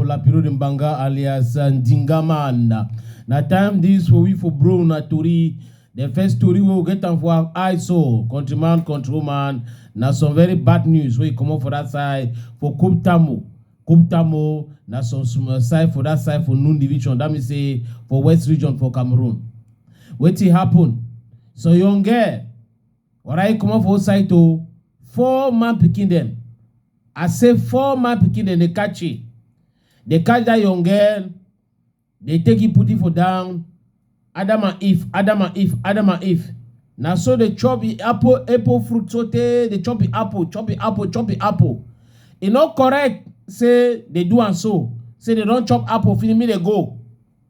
la bureau de Mbanga alias Ndingamana. Na time this for we for bro na tori. The first story we get am for I saw countryman countrywoman na some very bad news wey comot for that side for Kuptamo. Kuptamo na some small side for that side for Nun division that means say for West region for Cameroon. Wetin happen? So young girl Wara e comot for old side o. Four man pikin dem. I say four man pikin dem dey catch e. Dey catch that young girl. Dey take e put e for down. Adam and Eve, Adam and Eve, Adam and Eve. Na so dey chop e apple, apple fruit so tey dey chop e apple, chop e apple, chop e apple. E no correct say dey do am so. Say dey don chop apple finish make dey go.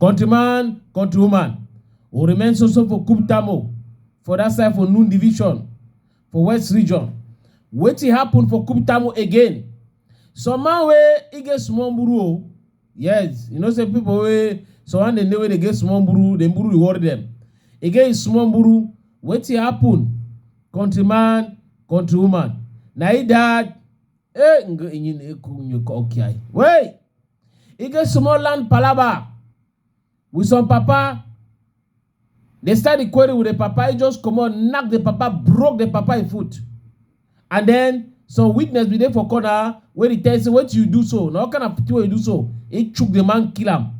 Countryman, countrywoman, we remain so so for Kuptamo for that side for Noon Division for West Region. Wetin happen for Kuptamo again? Some man wey e get small mburu o. Yes, you know say people wey some man dey know wey dey get small mburu, the mburu dey worry them. E get his small mburu, wetin happen? Countryman, countrywoman, na e that eh ngo enyi na eku nyoko okiai. Wey! e get small land palava with some papa they start the quarry with the papa he just come on knock the papa broke the papa him foot and then some witness be there for corner wey dey tell say what you do so na what kind of thing wey you do so he chook the man kill am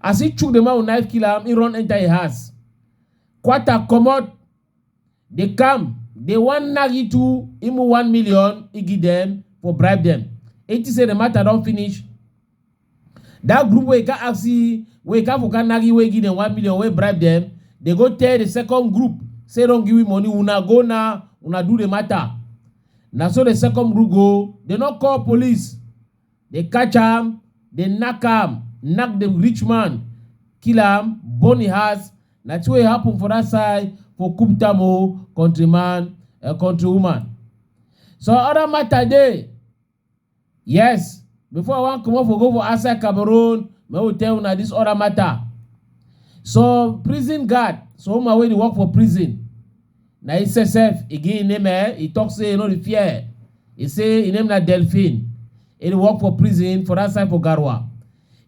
as he chook the man with knife kill am he run enter him house kwata comot Dey come, dey wan knack you two imu one million igi dem for bribe dem. E think say the matter don finish. That group wey can ask wey can for can knack you wey give dem one million wey bribe dem, dey go tell the second group say don give you money una go now una do the matter. Na so the second group go, dey no call police. Dey catch am, dey knack am, knack the rich man, kill am, burn e house, na thing wey happen for that side for Kuptam o, country man, uh, country woman. So other matter dey, yes, before I wan comot for go for outside Cameroon, make we tell una this other matter. So prison guard, so woman wey dey work for prison, Na im sefsef e give im name eh, e talk say e no dey fear. E say im name na Delphine, e dey work for prison for dat side for Garoua.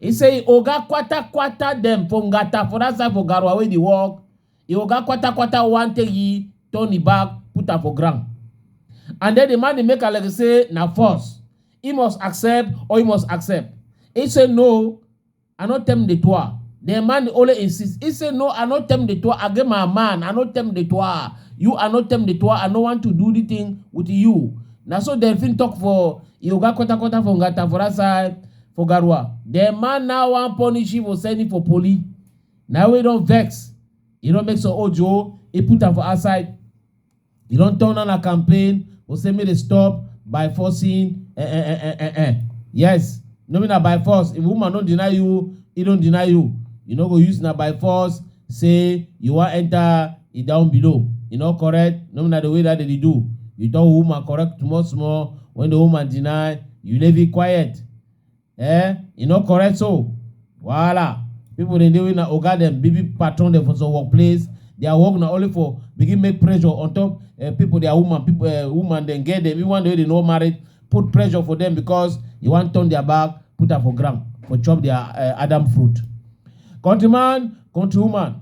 E say im oga kwata-kwata dem for Ngata for dat side for Garoua wey e dey work, im oga kwata-kwata wan take e turn e back put am for ground. And den di man dey make am like say na force, e must accept or e must accept. E say no, I no tell the tour. The man only insists. He say, no, I no tell the tour. I get my man. I no tell the tour. You, I no tell the tour. I no want to do the thing with you. Now so Delphine talk for Yoga Kota Kota for Ngata for that side for Garua. The man now want punish him for sending for police. Now we don't vex. You don't make so ojo. He put her for outside. You don turn on a campaign, go say make dey stop by forcing eh, eh, eh, eh, eh, eh. Yes, no be na by force. If woman don deny you, he don deny you. You no go use na by force say you wan enter e down below. E no correct, no be na the way that dem dey do. You tell woman correct small small, when the woman deny, you leave it quiet. Eh, e no correct so. Wahala. People dey dey wey na oga dem, big big patron dem for some workplace. Their work na only for begin make pressure on top uh, people, their woman, people, uh, woman dem get them. Even though they no married, put pressure for them because you want turn their back, put her for ground, for chop their uh, Adam fruit. Countryman, countrywoman,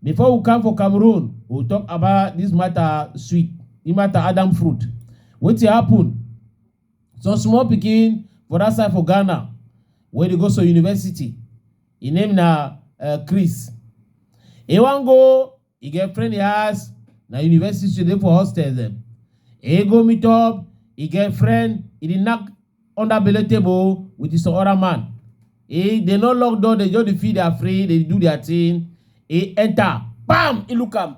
before we come for Cameroon, we talk about this matter sweet, the matter Adam fruit. Wetin happen? Some small pikin for that side for Ghana wey dey go some university, im name na um Chris. He wan go e get friend house, na university she dey for hostel dem. He go meet up e get friend, e dey knack under belle table with some other man. He dey no lock door, dey just dey feel their free, dey do their thing. He enter, kpam! He look am.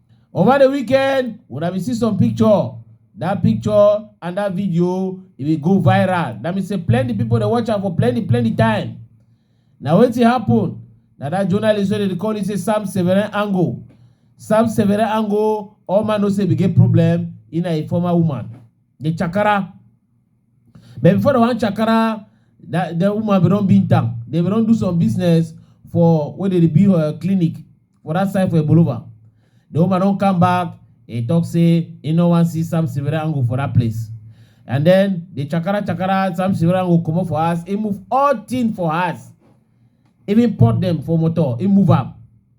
Over the weekend, when I see some picture, that picture and that video, it will go viral. That means say plenty people they watch am for plenty, plenty time. Now what it happen? Now that journalist wey dey call it say Sam Severin Ango. Sam Severin Ango, all man no say we get problem in a former woman. The chakara but before dem wan chakara that the woman bin don beat am dem bin don do some business for wey dey dey build uh, clinic for that side for Ebolova the woman don come back he talk say he no wan see Sam Sibirango for that place and then the chakara chakara Sam Sibirango comot for house he move all thing for house even pot dem for motor he move am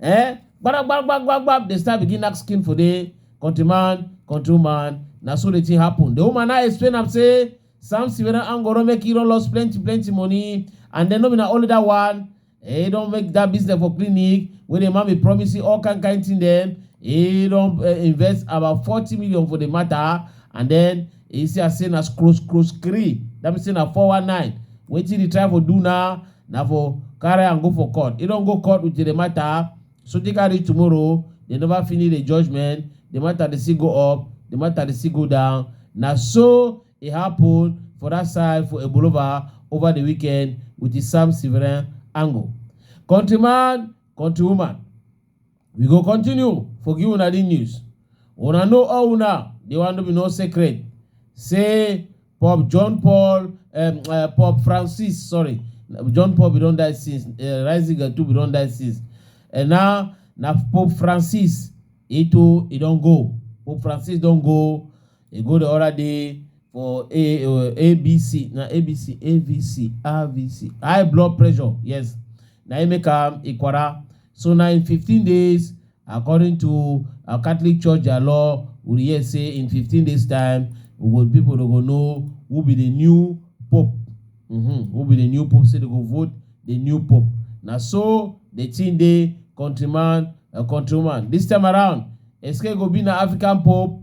Eh? Gbara gbara gbara gbara gbara dey start begin knack skin for the country man, country man. Na so the thing happen. The woman now explain am say Samson wey don hang Oro make he don lost plenty plenty money and then no be na only that one. He don make that business for clinic wey the man be promising all kind kind thing dem. He don uh, invest about forty million for the matter and then e see am say na scroll scroll scree that means say na 419 wetin the try for do now na for carry am go for court e don go court with the matter so take am reach tomorrow they never finish the judgment the matter dey still go up the matter dey still go down na so e happen for that side for ebolova over the weekend with the sam severin angle countryman countrywoman We go continue for give una the news. Una know all una, the one no be no secret. Say Pope John Paul, um, uh, Pope Francis, sorry, John Paul we don die since, uh, Ratzinger too we don die since. And now na Pope Francis, he too he don go. Pope Francis don go E go the other day for A, uh, ABC, na ABC, AVC, AVC, high blood pressure. Yes, na im make am Ikwara. So na in 15 days, according to uh, Catholic Church their law, we hear say in 15 days time, we go people dey go know who be the new pope. Mm-hmm. Who be the new pope? Say they go vote the new pope. Na so the thing dey countryman, uh, countrywoman. This time around, Eske go be na African pope.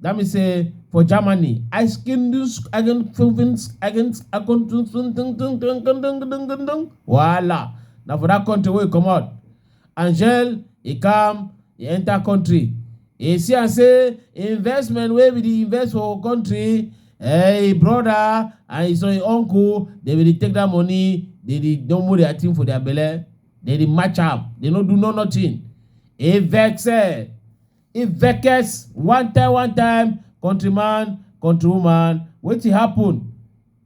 That means say for Germany, I skin this again province against a country voila. Now for that country we come out. Angel, he come, he enter country. He see and say investment where we dey invest for country, hey brother and his own uncle, they will take that money, they dey don't move their thing for their belly, they dey match up, they no do no nothing. He vex eh. If vex one time one time, countryman, countrywoman, wetin happen?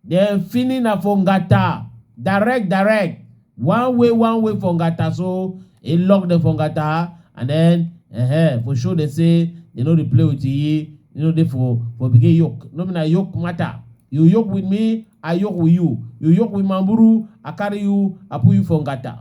Dem fini na for Ngata, direct direct, one way one way for Ngata so e lock dem for Ngata and then uh, for show dem say dem no dey play with ye, you no dey for for begin yoke, no be na yoke matter. You yoke with me, I yoke with you. You yoke with Mamburu, I carry you, I put you for Ngata.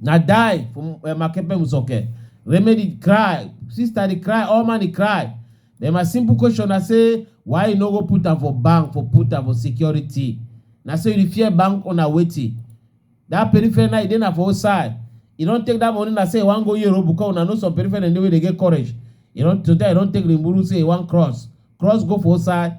na die for eh, Makepe Musoke. Remedy cry, sister dey cry, all man dey cry. Then my simple question na say why you no go put am for bank for put am for security? Na say you dey fear bank owner wetin? That peripheral na e dey na for outside. You don take that money na say you wan go Europe because una know some peripheral dey wey dey get courage. You don today you don take the muru say you wan cross. Cross go for outside,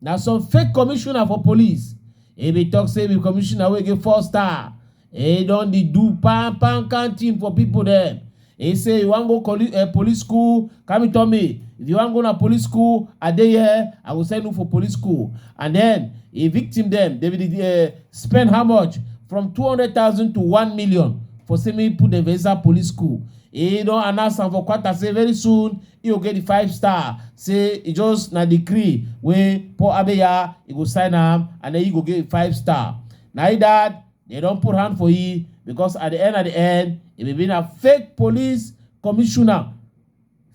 na some fake commissioner for police e bin tok say be commissioner wey get four star e don dey do pan pan can thing for pipo dem e say you wan go coli- eh, police school come tell me if you wan go na police school i dey here i go send you for police school and then e victim dem dey bin eh, spend how much from two hundred thousand to one million for say make e put dem for inside police school He don announce am for Qatar say very soon he go get the five star. Say e just na decree wey Paul Abeya he go sign am and then he go get five star. Na he that they don put hand for he because at the end at the end he be being a fake police commissioner.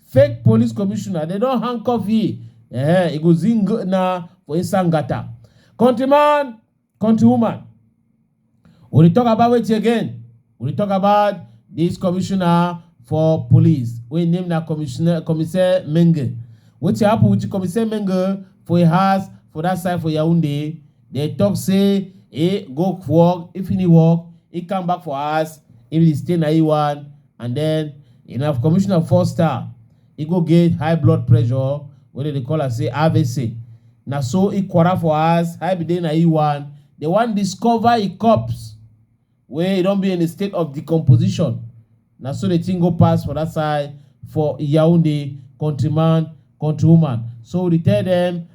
Fake police commissioner. They don handcuff he. Eh, he go zing na for Isangata. Countryman, countrywoman. We dey talk about wetin again? We dey talk about dis commissioner for police wey im name na commissioner Commissaire Menge. Wetin happen with Commissaire Menge for im house for dat side for Yaounde? Dem talk say e go work, e finish work, e come back for house, e dey stay na im one and den na commissioner four star. e go get high blood pressure wey dem dey call am say avc na so e quarrel for house how e be dey na e wan they wan discover e corpse wey e don be in a state of decomposition na so the thing go pass for that side for yaounde countryman countrywoman so we dey tell them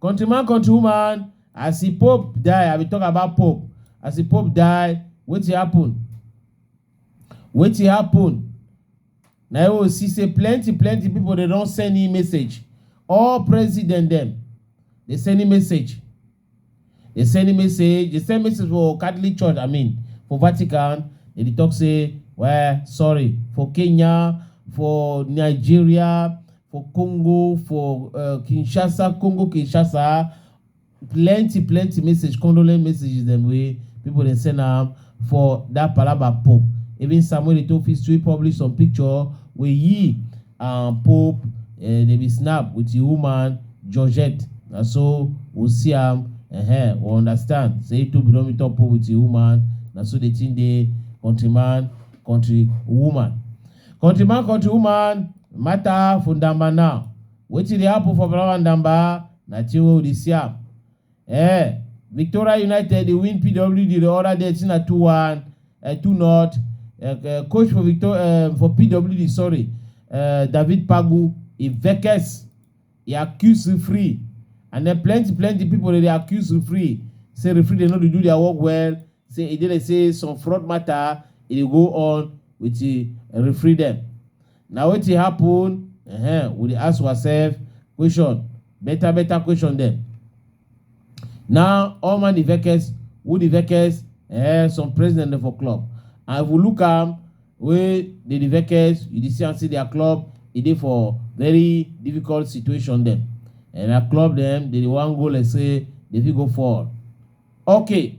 Country man, country woman, as the Pope die, I be talk about Pope. As the Pope die, wetin happen? Wetin happen? Na you go see say plenty plenty people dey don send him message. All president dem dey send him message. Dem send email say dem send message for Catholic Church, I mean, for Vatican, dem dey talk say, well, sorry, for Kenya, for Nigeria, for Congo, for uh, Kinshasa, Congo, Kinshasa, plenty, plenty message, condolence messages dem wey people dey send am for that palaba pope even samuel eto'o fit sweep publish some picture wey he um, pope uh, eh, dey be snap with the woman georgette na so we see am uh-huh, we understand say eto'o bin don meet up with the woman na so the thing dey countryman country woman countryman country woman matter for ndamba now wetin dey happen for palaba ndamba na thing wey we dey see am Eh, Victoria United dey win PWD the other day say na 2-1, uh, 2-0. Uh, uh, coach for Victor uh, for PWD, sorry, uh, David Pagu, he vex, he accuse referee, and then plenty plenty people dey dey accuse referee. Say referee dey no dey do their work well. Say e dey dey say some fraud matter e dey go on with the referee dem. Na wetin happen? Ehen, we dey ask ourselves question, better better question dem. Now all man dey vex, who dey vex? Eh, some president dem for club. And if we look am wey dey dey vex, you dey see am say their club e dey for very difficult situation dem. And na club dem dey dey wan go like say dey fit go fall. Okay,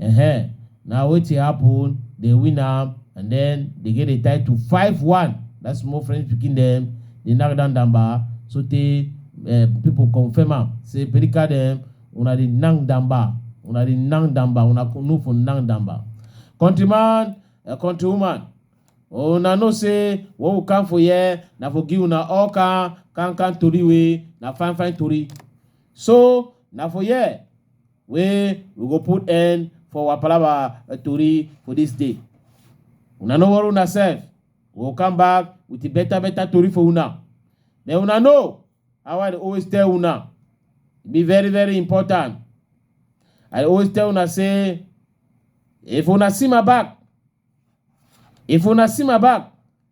Ehen, na wetin happen, dem win am and then dem get the title five one that small French pikin dem dey knack down Damba sotey um people confirm am say Perika dem una dey knack Damba, una dey knack Damba, una no for knack Damba. Country man and country woman, una know say what we come for here na for give una all kan kan kan tori wey na fine fine tori. So na for here wey we go put end for our palava uh, tori for this day. Una no worry una sef. We go come back with a better better tori for una. Then una know how I dey always tell una. E be very very important. I dey always tell una say if una see my back, if una see my back,